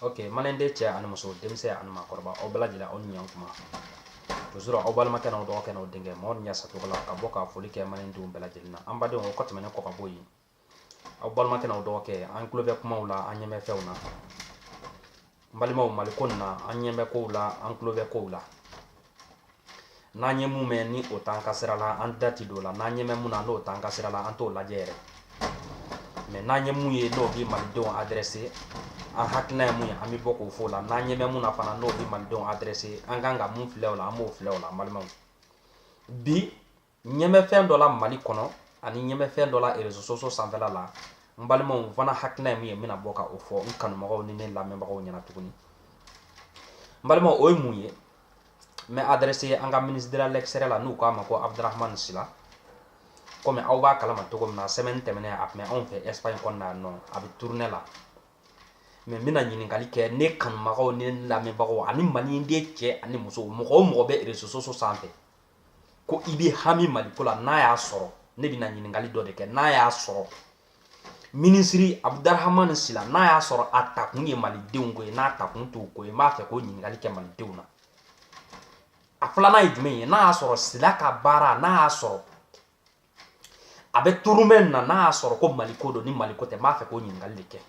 ok maliyɛnden cɛ ani muso denmisɛn ani maakɔrɔba aw bɛɛ lajɛlen aw ni ɲan kuma toujours aw balimakɛ n'aw dɔgɔkɛ n'aw denkɛ mamadu ɲasa togola ka bɔ ka foli kɛ maliyɛndenw bɛɛ lajɛlen na an badenw o kɔ tɛmɛnen kɔ ka bɔ yen aw balimakɛ n'aw dɔgɔkɛ an tulo bɛ kumaw la an ɲɛ bɛ fɛnw na n balimaw maliko nin na an ɲɛ bɛ kow la an tulo bɛ kow la n'an ye mun mɛn ni o t'an ka sira la an da ti don o la n'an ɲɛ bɛ mun na n'o t'an ka sira la an t'o lajɛ yɛrɛ mɛ n'an ye mun ye n'o bi malidenw adrɛse an hakilina ye mun ye an bɛ bɔ k'o fɔ la n'an ɲɛ bɛ mun na fana n'o bi malidenw adrɛse an kan ka mun filɛ o la an b'o filɛ o la n balimaw bi ɲɛ bɛ fɛn dɔ la mali kɔnɔ ani n ɲɛ bɛ fɛn dɔ la réseaux sociaux sanfɛla la n balimaw n fana hakilina ye min ye n bɛna bɔ ka o fɔ n kanumɔgɔw ni ne lamɛnbagaw ɲɛna tuguni n balimaw o ye mun ye n bɛ adrɛse an ka ministre de l'extérieur la n'u k'a ma ko abdurahman sila komi aw b'a kalama cogo min na sɛmɛni tɛmɛnen a tun bɛ anw fɛ espagne kɔnɔna yan nɔ a bɛ tournée la mɛ n bɛna ɲininkali kɛ ne kanubagaw ni ne lamɛnbagaw ani maliyɛnden cɛ ani muso mɔgɔ o mɔgɔ bɛ réseaux sociaux sanfɛ ko i bɛ hami maliko la n'a y'a sɔrɔ ne bɛna ɲininkali dɔ de kɛ n'a y'a sɔrɔ minisiri abudarahamani sila n'a y'a sɔrɔ a takun ye malidenw ko ye n'a takun t'u ko ye n b'a fɛ k'o ɲininkali kɛ malidenw na a filanan ye jumɛn ye n'a y'a sɔrɔ sila ka baara n'a y'a sɔrɔ a bɛ tournée na n'a y'a sɔrɔ ko mali ko don ni mali ko tɛ n b'a fɛ k'o ɲininkali de kɛ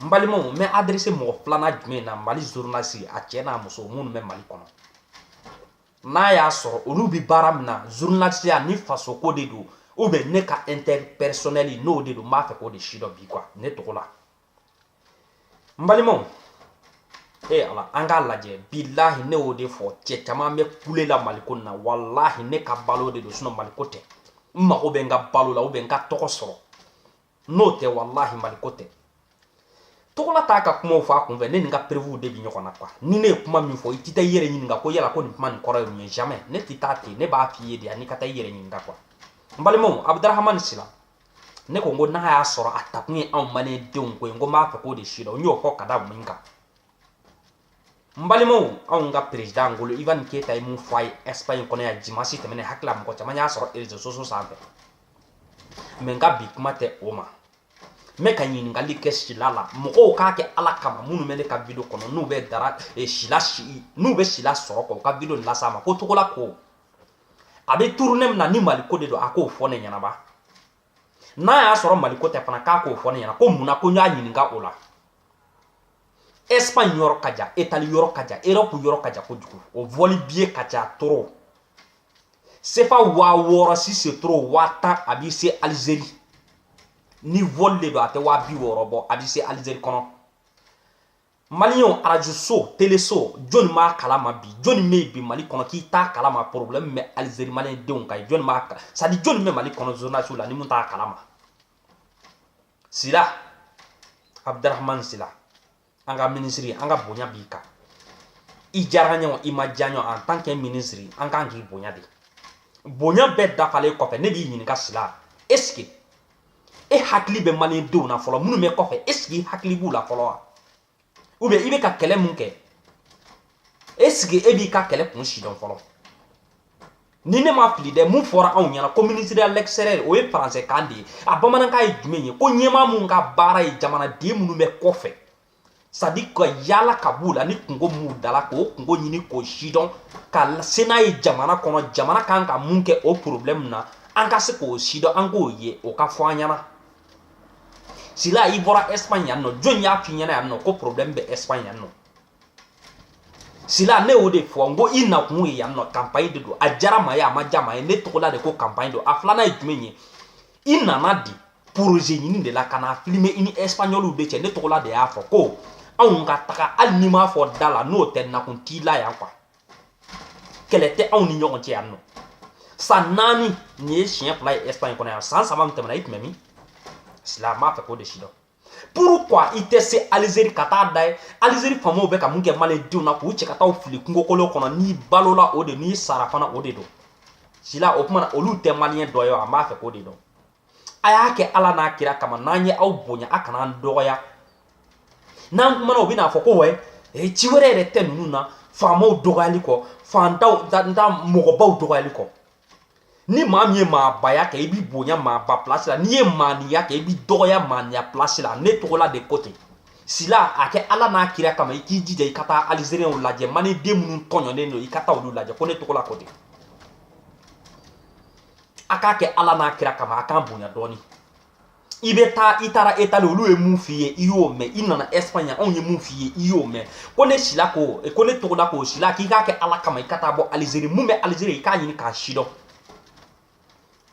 n balimaw n bɛ adrese mɔgɔ filanan jumɛn na mali zurunalisi a cɛ n'a muso minnu bɛ mali kɔnɔ n'a y'a sɔrɔ olu bɛ baara min na zurunalisiya ni fasoko de don ubiyɛn n'u ka ɛntɛrɛ pɛrisɔnɛli n'o de don n b'a fɛ k'o de sidɔn bi kuwa ne togola n balimaw ee ala an k'a lajɛ bilahi ne y'o de fɔ cɛ caman bɛ kule la maliko na walahi ne ka balo de don sinɔn maliko tɛ n mago bɛ n ka balo la ubiyɛn n ka tɔgɔ sɔrɔ n'o tɛ walahi maliko tɛ togola t'a ka kumaw fɔ a kunfɛ ne ni n ka perevuw de bi ɲɔgɔn na kuwa ni ne ye kuma min fɔ i tɛ taa i yɛrɛ ɲininka ko yala ko nin kuma nin kɔrɔ ye mun ye jamais ne tɛ taa ten ne b'a f'i ye de yani i ka taa i yɛrɛ ɲininka kuwa n balimaw abudarahamani sila ne ko n ko n'a y'a sɔrɔ a takun ye anw malidenw ko ye n ko n b'a fɛ k'o de sidɔn n y'o fɔ ka da mun kan n balimaw anw ka perezidan ngolo ivan keyita ye mun fɔ a ye ɛsipaɲi kɔnɔ yan dimasi tɛmɛnen n hakili la mɔgɔ caman y'a sɔrɔ réseaux sociaux sanfɛ mɛ n ka bi kuma tɛ o ma n bɛ ka ɲininkali kɛ sila la mɔgɔw k'a kɛ ala kama minnu bɛ ne ka video kɔnɔ n'u bɛ dara eh, sila si n'u bɛ sila sɔrɔ kɔ u ka video las'a ma ko togola ko a bɛ tournée min na ni maliko de don a k'o fɔ ne ɲɛna ba n'a y'a sɔrɔ maliko tɛ fana k'a k'o fɔ ne ɲɛna ko mun na ko n y'a ɲininka o la espagne yɔrɔ ka jan etali yɔrɔ ka jan europe yɔrɔ ka jan kojugu o vɔli biye ka ca trop sefa waa wɔɔrɔ si c'est trop waa tan a b'i se alizeri ni vɔli de don a tɛ waa bi wɔɔrɔ bɔ a b'i se alizeri kɔnɔ Maliens radio so télé so jɔni m'a kalama bi jɔni bɛ yen bi Mali kɔnɔ k'i t'a kalama problème bɛ Algérie malien denw kan jɔni b'a kala c'est à dire jɔni bɛ Mali kɔnɔ journaliste la ni mun t'a kalama Sila Abdrahman Sila an ka ministre an ka bonya b'i kan i diyara n ye o i ma diya n ye o en tant que ministre an kan k'i bonya de bonya bɛɛ dafalen kɔfɛ ne b'i ɲininka Sila est ce que e hakili bɛ mali denw na fɔlɔ minnu bɛ kɔfɛ est ce que i hakili b'u la fɔlɔ wa u bɛ i bɛ ka kɛlɛ min kɛ est ce que e b'i ka kɛlɛ kun sidɔn fɔlɔ ni ne ma fili dɛ mun fɔra anw ɲɛna ko ministre à l'extérieur o ye faransɛ kan de ye a bamanankan ye jumɛn ye ko ɲɛmaa min ka baara ye jamanaden minnu bɛ kɔfɛ c'est à dire ka yaala ka b'u la ni kunko b'u da la k'o kunko ɲini k'o sidɔn ka se n'a ye jamana kɔnɔ jamana kan ka mun kɛ o problɛmu na an ka se k'o sidɔn an k'o ye o ka fɔ an ɲɛna sila i bɔra espagne yan nɔ jɔn y'a f'i ɲɛna yan nɔ ko problɛmu bɛ espagne yan nɔ sila ne y'o de fɔ n ko i nakun ye yan nɔ kanpayi de don a diyara maa ye a ma diya maa ye ne tɔgɔla de ko kanpayi don a filanan ye jumɛn ye i nana di poroze ɲini de la ka na filime i ni ɛsipanyɔliw de cɛ ne tɔgɔla de y'a fɔ ko anw ka taga hali n'i m'a fɔ da la n'o tɛ nakun t'i la yan quoi kɛlɛ tɛ anw ni ɲɔgɔn cɛ yan nɔ san naani nin ye siɲɛ fila ye ɛsipaɲi kɔnɔ yan san saba min tɛmɛna i tun bɛ min sila n b'a fɛ k'o de sidɔn pourquoi i tɛ se alizeri ka taa da ye alizeri faamaw bɛ ka mun kɛ malidenw na k'u cɛ ka taa fili kungokolon kɔnɔ n'i balola o de n'i sara fana o de don sila o kumana olu tɛ maliyɛn dɔ ye wa an b'a fɛ k'o de dɔn a y'a kɛ ala n'a kira kama n'an ye aw bonya a kana an dɔgɔya n'an kumana u bɛna fɔ ko wɛ e ci wɛrɛ yɛrɛ tɛ ninnu na faamaw dɔgɔyali kɔ fantaw nta mɔgɔbaw dɔgɔyali kɔ ni maa min ye maabaya kɛ i b'i bonya maaba pilasi la n'i ye maaniya kɛ i b'i dɔgɔya maaniya pilasi la ne tɔgɔla de ko ten sila a kɛ ala n'a kira kama i k'i jija i ka taa alizeriyɛnw lajɛ mani den minnu tɔɲɔnen don i ka taa olu lajɛ ko ne tɔgɔla ko ten a k'a kɛ ala n'a kira kama a k'an bonya dɔɔni i bɛ taa i taara etali olu ye mun f'i ye i y'o mɛn i nana ɛsipaɲa anw ye mun f'i ye i y'o mɛn ko ne sila ko ko ne tɔgɔla ko sila k'i k'a kɛ ala kama i ka taa bɔ alizeri mun bɛ alizeri i k'a ɲini k'a sidɔn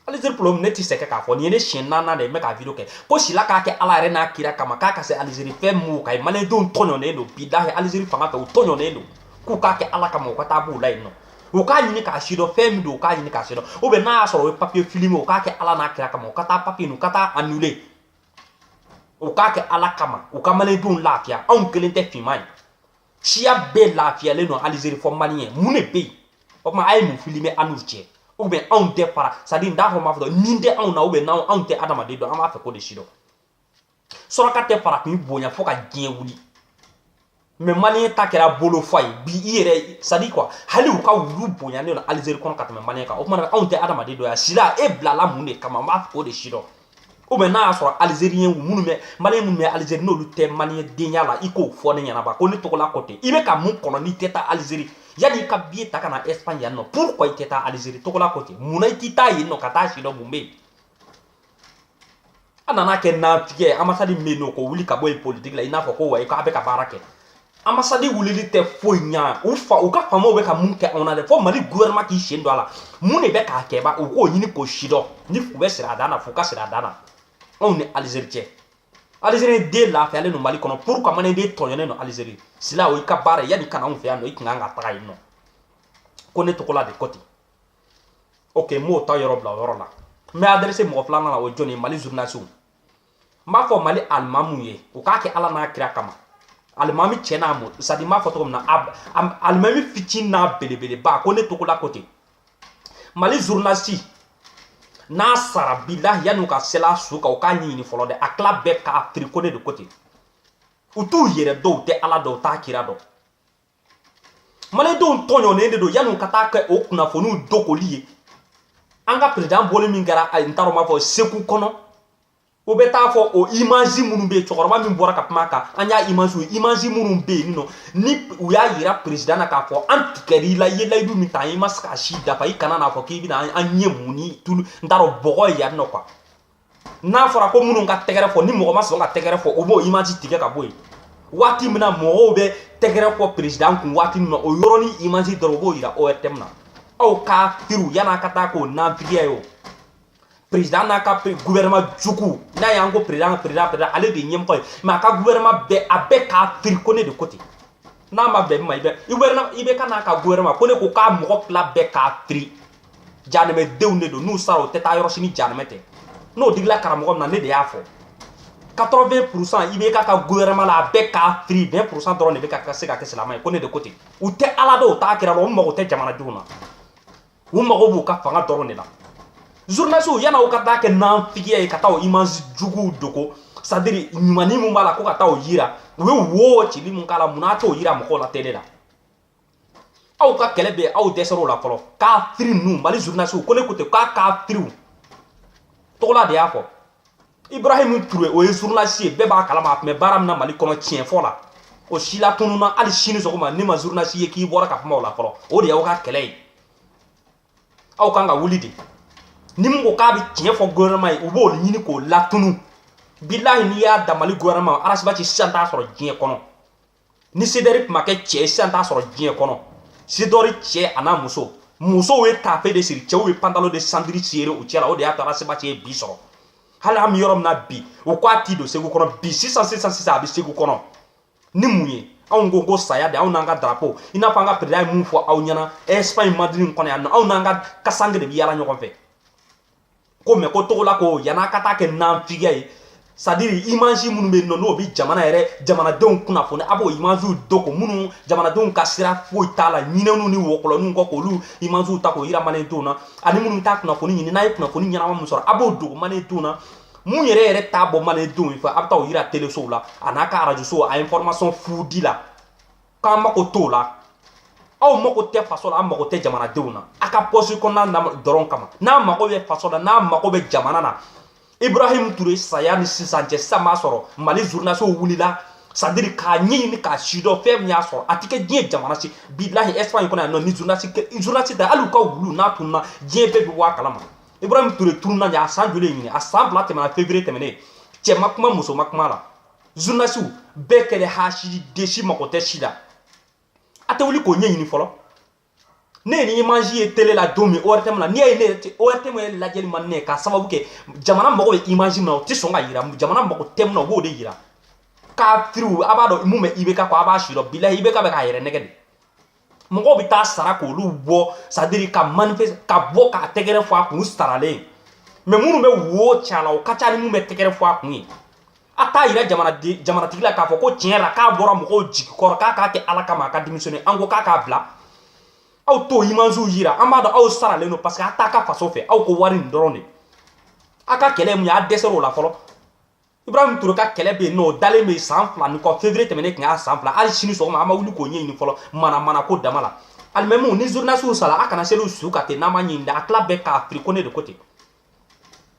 alizeri problɛmu ne tɛ sɛgɛn k'a fɔ nin ye ne siɲɛ naaninan de ye n bɛ k'a video kɛ ko sila k'a kɛ ala yɛrɛ n'a kira kama k'a ka se alizeri fɛn mun ka ye maliyɛndenw tɔɲɔnen don bi dahi alizeri fanga fɛ u tɔɲɔnen don k'u k'a kɛ ala kama u ka taa b'u la yen nɔ u k'a ɲini k'a sidɔn fɛn min don u k'a ɲini k'a sidɔn u bɛ n'a y'a sɔrɔ o ye papiye fili min u k'a kɛ ala n'a kira kama u ka taa papiye u ka taa anule u k'a kɛ ala kama u ka malidenw lafiya anw kelen tɛ finma ye siya bɛɛ lafiyalen don alizeri fo maliyɛn mun de bɛ yen o tuma a ye mun fili bɛ an n'u cɛ u bɛ anw tɛ fara c'est à dire n t'a fɔ n b'a fɔ dɔnni tɛ anw na u bɛ n'anw anw tɛ adamaden dɔn an b'a fɛ k'o de sidɔn suraka tɛ farafin bonya fo ka diɲɛ wuli mɛ maliyɛn ta kɛra bolo fa ye bi i yɛrɛ c'est à dire quoi hali u ka wulu bonyanen don alizeri kɔnɔ ka tɛmɛ maliyɛn kan o tumana anw tɛ adamaden dɔ ye wa sila e bilala mun de kama n b'a fɛ k'o de sidɔn o mɛ n'a y'a sɔrɔ alizeriyɛn minnu bɛ maliyɛn minnu bɛ alizeri n'olu tɛ maliyɛn de ye ala i k'o fɔ ne ɲɛ na ba ko ne togola ko ten i bɛ ka mun kɔnɔ n'i tɛ taa alizeri yanni i ka biye ta ka na ɛsipaɲi yan nɔ pourquoi i tɛ taa alizeri togola ko ten mun na i t'i taa yen nɔ ka taa a sidɔn mun bɛ yen an nana kɛ natigɛ ambassade min n'u k'o wuli ka bɔ yen politiki la i n'a fɔ ko wa k'a bɛ ka baara kɛ ambassade wulili tɛ foyi ɲa u fa u ka faamaw bɛ ka mun kɛ anw na dɛ fo mali gouvernement k'i sen don a la mun de bɛ ka kɛ ba u k'o ɲini k'o sidɔn ni u bɛ sira a dan na f'u ka sira a dan na anw ni alizeri cɛ alizeri den lafiyalen don mali kɔnɔ pourquoi maliden tɔɲɔnen don alizeri sila o i ka baara yanni i ka na anw fɛ yan nɔ i tun kan ka taga yen nɔ ko ne togola de ko ten ok n b'o ta yɔrɔ bila o yɔrɔ la n bɛ adresse mɔgɔ filanan na o jɔni ye mali journalisiw n b'a fɔ mali alimamu ye u k'a kɛ ala n'a kira kama alimami cɛ n'a muso c'est à dire n b'a fɔ cogo min na alimami fitinin n'a belebeleba ko ne togola ko ten mali journalisi n'a sara bilahi yanni u ka seli a su kan u k'a ɲɛɲini fɔlɔ dɛ a tila bɛɛ kafiri ko ne de ko ten u t'u yɛrɛ dɔn u tɛ ala dɔn u t'a kira dɔn malidenw tɔɲɔnen de don yanni ka taa kɛ o kunnafoniw dogoli ye an ka perezidan bɔli min kɛra ayi n t'a dɔn n b'a fɔ segu kɔnɔ o bɛ taa fɔ o image minnu bɛ yen cɛkɔrɔba min bɔra ka kuma a kan an y'a image ye image minnu bɛ yen nɔ ni u y'a yira perezidan na k'a fɔ an tigɛra i la i ye layidu min ta an ye i ma se k'a si dafa i kana na a fɔ k'i bɛna an ɲɛ mun ni tulu n t'a dɔn bɔgɔ ye yan nɔ quoi n'a fɔra ko minnu ka tɛgɛrɛ fɔ ni mɔgɔ ma sɔn ka tɛgɛrɛ fɔ u b'o image tigɛ ka bɔ yen waati min na mɔgɔw bɛ tɛgɛrɛ fɔ perezidan kun waati min na o yɔrɔnin image dɔrɔn u b'o yira ORTM na aw kafiriw yann'a ka taa kɛ o nanfigiya ye o perezidan n'a ka gouvernement jugu n'a y'an ko perezidan perezidan perezidan ale de ye ɲɛmɔgɔ ye mɛ a ka gouvernement bɛɛ a bɛɛ kafiri ko ne de ko ten n'a ma bɛn min ma i bɛ IBK n'a ka gouvernement ko ne ko k'a mɔgɔ tila bɛɛ kafiri janɛmɛdenw de don n'u sara u tɛ taa yɔrɔ si ni janɛmɛ tɛ n'o digila karamɔgɔ min na ne de y'a fɔ 80 pourcent IBK ka gouvernement la a bɛɛ kafiri 20 pourcent dɔrɔn de bɛ ka se ka kɛ silamɛ ye ko ne de ko ten u tɛ ala dɔn u t'a kira dɔn u mago tɛ jamanadenw na u mago b'u ka fanga dɔrɔn de la journalisiw yann'a u ka taa kɛ nanfigiya ye ka taa o image juguw dogo c'est à dire ɲumanni min b'a la ko ka taa o yira u ye wo cili min k'a la mun n'a t'o yira mɔgɔw la tele la aw ka kɛlɛ bɛ aw dɛsɛr'o la fɔlɔ kafiri ninnu mali zurunasiw ko ne ko ten k'a kafiriw togola de y'a fɔ ibrahim ture o ye zurunasi ye bɛɛ b'a kalama a tun bɛ baara min na mali kɔnɔ tiɲɛ fɔ la o sira tununna hali sini sɔgɔma ne ma zurunasi ye k'i bɔra ka kuma o la fɔlɔ o de y'aw ka kɛlɛ ye aw kan ka wuli de ni min ko k'a bɛ tiɲɛ fɔ gouvernement ye u b'o ɲini k'o latunu bilahi n'i y'a da mali gouvernement ras bath sisan t'a sɔrɔ diɲɛ kɔnɔ ni cdr tun ma kɛ cɛ ye sisan t'a sɔrɔ diɲɛ kɔnɔ cdr cɛ a n'a muso musow ye tafe de siri cɛw ye pantalo de sɛntiri siri u cɛla o de y'a to ras bath ye bi sɔrɔ hali an bɛ yɔrɔ min na bi o ko a ti don segu kɔnɔ bi sisan sisan sisan a bɛ segu kɔnɔ ni mun ye anw ko ko saya de anw n'an ka darapo i n'a fɔ an ka perida ye mun fɔ aw ɲɛna espagne madrid kɔnɔ yan nɔ anw n'an ka kasanke de bɛ yaala ɲɔgɔn fɛ ko mɛ ko togola ko yan'a ka taa kɛ nafigiya ye sadiri imansi minnu bɛ yen nɔ n'o bɛ jamana yɛrɛ jamanadenw kunnafoni a b'o imansiw dogo minnu jamanadenw ka sira foyi t'a la ɲinɛninw ni wɔkɔlɔninw kɔ k'olu imansiw ta k'o yira malendenw na ani minnu bɛ taa kunnafoni ɲini n'a ye kunnafoni ɲɛnama min sɔrɔ a b'o dogo malendenw na mun yɛrɛ yɛrɛ t'a bɔ malendenw ye fɛ a bɛ taa o yira telesow la a n'a ka arajosow a information fudi la k'an mako t'o la aw mako tɛ faso la aw mako tɛ jamanadenw na a ka pɔsi kɔnɔna dɔrɔn kama n'a mako bɛ faso la n'a mako bɛ jamana na ibrahim ture saya ni sisan cɛ sisan b'a sɔrɔ mali zurunasiw wulila sadiri k'a ɲɛɲini k'a sidɔn fɛn min y'a sɔrɔ a tɛ kɛ diɲɛ jamana si bilahi espagne kɔnɔ yan nɔ ni zurunasi zurunasi tɛ hali u ka wulu n'a tununa diɲɛ bɛɛ bɛ bɔ a kalama ibrahim ture tununa ɲɛ a san joli ye ɲinan a san fila tɛmɛna fevrier tɛmɛnen cɛ ma kuma muso ma kuma la zunasiw bɛɛ kɛlen hasidi de si mago tɛ si la a tɛ wuli k'o ɲɛɲini fɔlɔ ne ye nin imanzi ye tele la don min ortm na n'i y'a ye ne yɛrɛ tɛ ortm ye lajɛli ma ne k'a sababu kɛ jamana mago bɛ imanzi min na o tɛ sɔn k'a yira jamana mago tɛ min na o b'o de yira kafiriw a b'a dɔn mun bɛ ibk kɔ a b'a sidɔn bilahi ibk bɛ k'a yɛrɛ nɛgɛn de mɔgɔw bɛ taa sara k'olu bɔ sadiri ka manifeste ka bɔ ka tɛgɛrɛ fɔ a kun saralen mɛ minnu bɛ wo ci a la o ka ca ni minnu bɛ tɛgɛrɛ fɔ a kun ye a t'a yira jamanatigi la k'a fɔ ko tiɲɛ la k'a bɔra mɔgɔw jigi kɔrɔ k'a k'a kɛ ala kama a ka démissionner an ko k'a k'a bila aw t'o imansiw yira an b'a dɔn aw saralen don parce que a t'a ka faso fɛ aw ko wari nin dɔrɔn de a ka kɛlɛ mun ye a dɛsɛr'o la fɔlɔ Ibrahim Toure ka kɛlɛ bɛ yen nɔ o dalen bɛ yen san fila ni kɔ février tɛmɛnen tun y'a san fila hali sini sɔgɔma an ma wuli k'o ɲɛɲini fɔlɔ mana mana ko dama la alimamiw ni zurunasiw sara a kana seli u su kan ten n'an ma ɲɛɲini a tila bɛɛ kafiri ko ne de ko ten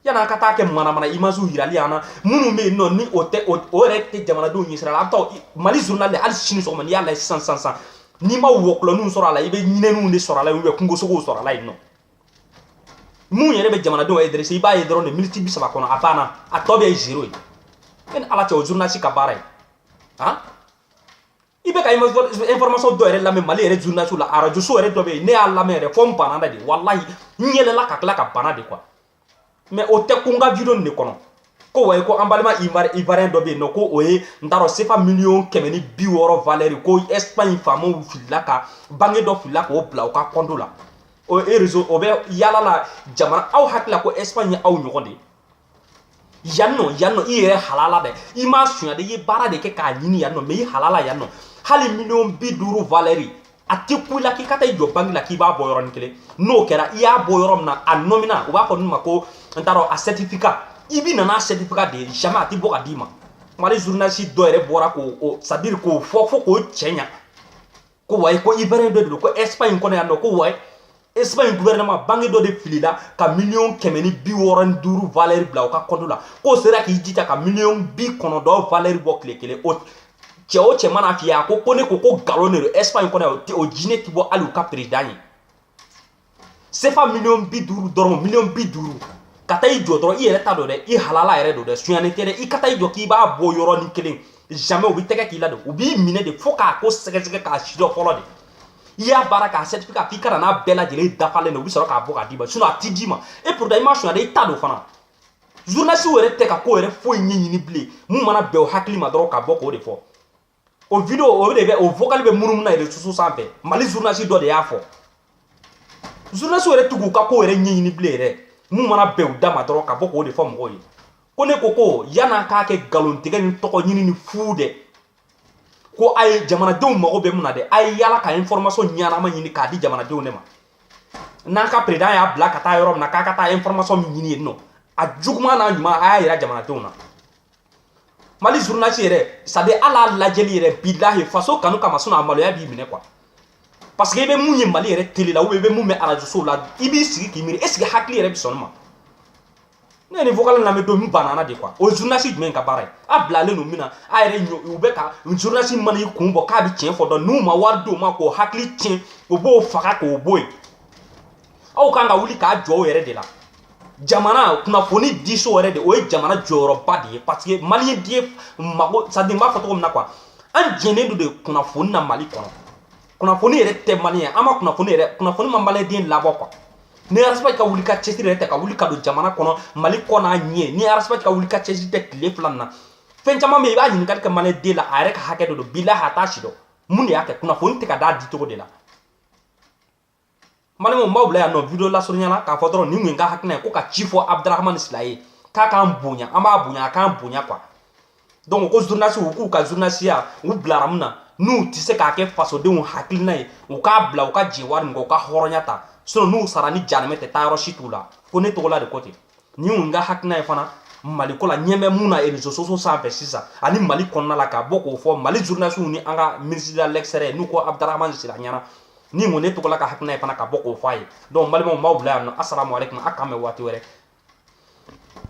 yan'an ka taa kɛ mana mana imasiw yirali an na minnu bɛ yen nɔ ni o tɛ o yɛrɛ tɛ jamanadenw ɲɛsira la an bɛ taa mali zurunali hali sini sɔgɔma n'i y'a lajɛ sisan sisan sisan n'i ma wɔkɔlɔninw sɔrɔ a la i bɛ ɲinɛninw de sɔrɔ a la ou bien kungosogow sɔrɔ a la yen nɔ mun yɛrɛ bɛ jamanadenw intéresser i b'a ye dɔrɔn de miniti bi saba kɔnɔ a banna a tɔ bɛɛ ye zero ye e ni ala cɛ o journaliste ka baara ye han i bɛ ka information dɔ yɛrɛ lamɛn mali yɛrɛ journaliste la arajoso yɛrɛ dɔ bɛ yen ne y'a lamɛn yɛrɛ fo n banana de walahi n yɛlɛla ka tila ka bana de quoi mais o tɛ ko n ka video nin de kɔnɔ ko wayi ko an balima ivoirien dɔ bɛ yen nɔ ko o ye n t'a dɔn sefa miliyɔn kɛmɛ ni bi wɔɔrɔ valɛri ko espagne faamaw filila ka banque dɔ filila k'o bila o ka kɔnto la o ye rezo o bɛ yala la jamana aw hakili la ko espagne ye aw ɲɔgɔn de ye yan nɔ yan nɔ i yɛrɛ halala dɛ i m'a sunya dɛ i ye baara de kɛ k'a ɲini yan nɔ mais i halala yan nɔ hali miliyɔn bi duuru valɛri a tɛ kun i la k'i ka taa i jɔ banque la k'i b'a bɔ yɔrɔnin kelen n'o kɛra i y'a bɔ yɔrɔ min na a nɔmina u b'a fɔ min ma ko n t'a dɔn a certificat i bi na n'a certificat de ye jamais a tɛ bɔ k'a d'i ma mali journaliste dɔ yɛrɛ bɔra k'o c'est à dire k'o fɔ fo k'o cɛɲa ko wayi ko ivoirien dɔ de don ko espagne kɔnɔ yan nɔ ko wayi Espagne gouvernement banque dɔ de filila ka miliyɔn kɛmɛ ni bi wɔɔrɔ ni duuru valeur bila o ka kɔnto la k'o sera k'i jija ka miliyɔn bi kɔnɔntɔn valeur bɔ tile kelen o cɛ o cɛ mana f'i ye a ko ko ne ko ko nkalon de don Espagne kɔnɔ yan o jinɛ ti bɔ hali u ka président ye sefa miliyɔn bi duuru dɔrɔn miliyɔn bi duuru ka taa i jɔ dɔrɔn i yɛrɛ ta don dɛ i halala yɛrɛ don dɛ sunyani tɛ dɛ i ka taa i jɔ k'i b'a bɔ yɔrɔnin kelen jamais u bɛ tɛgɛ k'i la de u b'i minɛ de fo k'a ko sɛgɛsɛgɛ k'a sidɔn fɔlɔ de i y'a baara k'a certificat k'i ka na n'a bɛɛ lajɛlen dafalen na u bɛ sɔrɔ k'a bɔ k'a d'i ma sinon a ti d'i ma et pourtant i ma sonyali i ta don fana journaliste yɛrɛ tɛ ka ko yɛrɛ foyi ɲɛɲini bilen mun mana bɛn o hakili ma dɔrɔn ka bɔ k'o de fɔ o video o de bɛ o vocal bɛ munumunu na réseaux sociaux sanfɛ mali journaliste dɔ de y'a fɔ journaliste yɛrɛ tɛ ka ko yɛrɛ ɲɛɲini bilen yɛrɛ mun mana bɛn u da ma dɔrɔn ka bɔ k'o de fɔ mɔgɔw ye ko ne ko ko yann'a k'a kɛ nkalontigɛ ni tɔgɔ ɲini ni fuu dɛ ko a ye jamanadenw mago bɛ mun na dɛ a ye yala ka information ɲɛnama ɲini k'a di jamanadenw de ma n'an ka président y'a bila ka taa yɔrɔ min na k'a ka taa information min ɲini yen nɔ a juguman n'a ɲuman a y'a yira jamanadenw na mali journaliste yɛrɛ c'est à dire ala lajɛli yɛrɛ bilahi faso kanu kama sinon a maloya b'i minɛ quoi parce que i bɛ mun ye mali yɛrɛ tele la ou bien i bɛ mun mɛn arajosow la i b'i sigi k'i miiri est ce que hakili yɛrɛ bɛ sɔn ma ne ye nin vocal lamɛn don min n banana de quoi o journaliste jumɛn ka baara ye a bilalen don min na a yɛrɛ ɲɔ u bɛ ka journaliste mana i kun bɔ k'a bɛ tiɲɛ fɔ dɔrɔn n'u ma wari d'o ma k'o hakili tiɲɛ o b'o faga k'o bɔ yen aw kan ka wuli k'a jɔ o yɛrɛ de la jamana kunnafonidiso yɛrɛ de o ye jamana jɔyɔrɔba de ye parce que maliyɛn diɲɛ mago c'est à dire n b'a fɔ cogo min na quoi an jɛnnen don de kunnafoni na mali kɔnɔ kunnafoni yɛrɛ tɛ mali ye an ma kunnafoni yɛrɛ kunnafoni ma maliden labɔ quoi ni ras bath ka wuli ka cɛsiri yɛrɛ tɛ ka wuli ka don jamana kɔnɔ mali kɔ n'a ɲɛ ni ras bath ka wuli ka cɛsiri tɛ tile fila na fɛn caman bɛ yen i b'a ɲininkali kɛ maliden la a yɛrɛ ka hakɛ de don bila a t'a si dɔn mun de y'a kɛ kunnafoni tɛ ka d'a di cogo de la balimaw n b'aw bila yan nɔ video lasurunya la k'a fɔ dɔrɔn nin tun ye n ka hakilina ye ko ka ci fɔ abdurahman sila ye k'a k'an bonya an b'a bonya a k'an bonya quoi donc ko journaliste u k'u ka journalisiya u bilara mun na n'u tɛ se k'a kɛ fasodenw hakilina ye u k'a bila u ka jɛ wari nin kɔ u ka hɔrɔnya ta sinon n'u sara ni janɛmɛ tɛ taa yɔrɔ si t'u la ko ne tɔgɔla de ko ten nin tun ye n ka hakilina ye fana mali ko la ɲɛ bɛ mun na réseaux sociaux sanfɛ sisan ani mali kɔnɔna la ka bɔ k'o fɔ mali journalisiw ni an ka minisiri de l'extérieur n'u ko abdurahman sila ɲɛna nin tun ye ne tɔgɔla ka hakilina ye fana ka bɔ k'o fɔ a ye donc balimaw n b'aw bila yan nɔ asalamu aleykum a k'an bɛn waati wɛrɛ